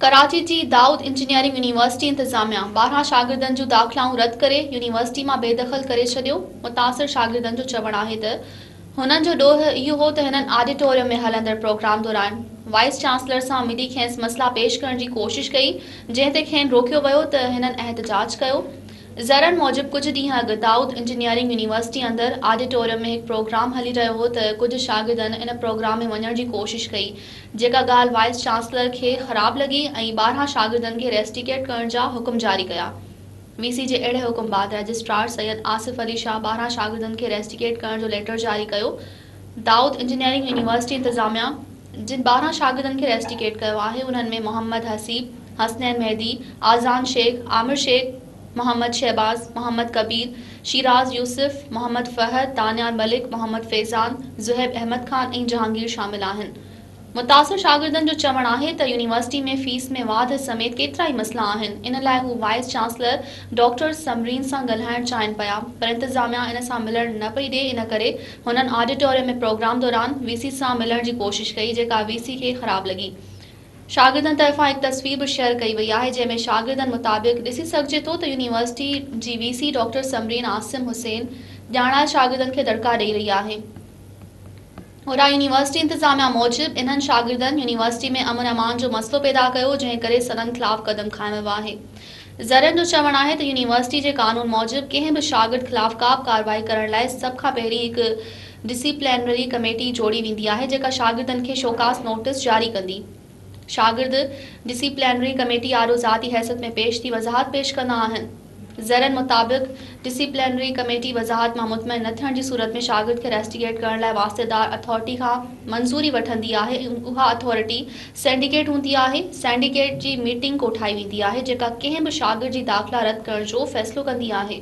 ڪراچي جي Dawood engineering university انتظاميا ٻارهن شاگردن جون داخلائون رد ڪري يونيورسٽي مان بي دخل ڪري ڇڏيو متاثر شاگردن جو چوڻ آهي ته هنن جو ڏوهه اهو هو ته هنن آڊيٽوريم ۾ هلندڙ پروگرام دوران وائيس چانسلر سان ملي کينس مسئلا پيش ڪرڻ جي ڪوشش ڪئي جنهن تي کين روڪيو ويو ته هنن احتجاج ڪيو ذريعن موجب ڪجهه ڏينهن اڳ دائود انجنيئرنگ يونيورسٽي اندر آڊيٽوريم ۾ هڪ پروگرام هلي رهيو هو ته ڪجهه شاگردن ان پروگرام ۾ وڃڻ جي ڪوشش ڪئي جيڪا ڳالهه وائيس چانسلر کي خراب لڳي ۽ ٻارهن شاگردن کي ريسٽيڪيٽ ڪرڻ جا حڪم جاري ڪيا. وي سي جي اهڙي حڪم بعد رجسٽرار سيد آصف علي شاهه ٻارهن شاگردن کي ريسٽيڪيٽ ڪرڻ جو ليٽر جاري ڪيو. دائود انجنيئرنگ يونيورسٽي انتظاميا جن ٻارهن شاگردن کي ريسٽيڪيٽ ڪيو آهي انهن ۾ محمد حسيب، حسنين مهدي، اذان شيخ، عامر شيخ، محمد شهباز، محمد ڪبير، شيراز يوسف، محمد فهد، دانيال ملڪ، محمد فيضان، زهيب احمد خان ۽ جهانگير شامل آهن. متاثر شاگردن جو چوڻ آهي ته يونيورسٽي ۾ فيس ۾ واڌ سميت ڪيترائي مسئلا آهن، ان لاء هو وائيس چانسلر ڊاڪٽر ثمرين سان ڳالهائڻ چاهين پيا پر انتظاميا ان سان ملڻ نه پئي ڏئي ان ڪري هنن آڊيٽوريم ۾ پروگرام دوران وي سي سان ملڻ جي ڪوشش ڪئي جيڪا وي سي کي خراب لڳي. شاگردن طرفان هڪ تصوير به شيئر ڪئي وئي آهي جنهن ۾ شاگردن مطابق ڏسي سگهجي ٿو ته يونيورسٽي جي V C doctor Samreen Asim Hussain ڄاڻايل شاگردن کي دڙڪا ڏئي رهي آهي. اوڏانهن يونيورسٽي انتظاميا موجب انهن شاگردن يونيورسٽي ۾ امن امان جو مسئلو پيدا ڪيو جنهن ڪري سندن خلاف قدم کايو ويو آهي. ذريعن جو چوڻ آهي ته يونيورسٽي جي قانون موجب ڪنهن به شاگرد خلاف ڪابه ڪارروائي ڪرڻ لاء سڀ کان پهرين هڪ ڊسيپلينري ڪميٽي جوڙي ويندي آهي جيڪا شاگردن کي شوڪاز نوٽس جاري ڪندي. شاگرد ڊسيپلينري ڪميٽي آڏو ذاتي حيثيت ۾ پيش ٿي وضاحت پيش ڪندا آهن. ذريعن مطابق ڊسيپلينري ڪميٽي وضاحت مان مطمئن نه ٿيڻ جي صورت ۾ شاگرد کي ريسٽيگيٽ ڪرڻ لاء واسطيدار اٿارٽي کان منظوري وٺندي آهي ۽ اها اٿارٽي سينڊيڪيٽ هوندي آهي. سينڊيڪيٽ جي ميٽنگ ڪوٺائي ويندي آهي جيڪا ڪنهن به شاگرد جي داخلا رد ڪرڻ جو فيصلو ڪندي آهي.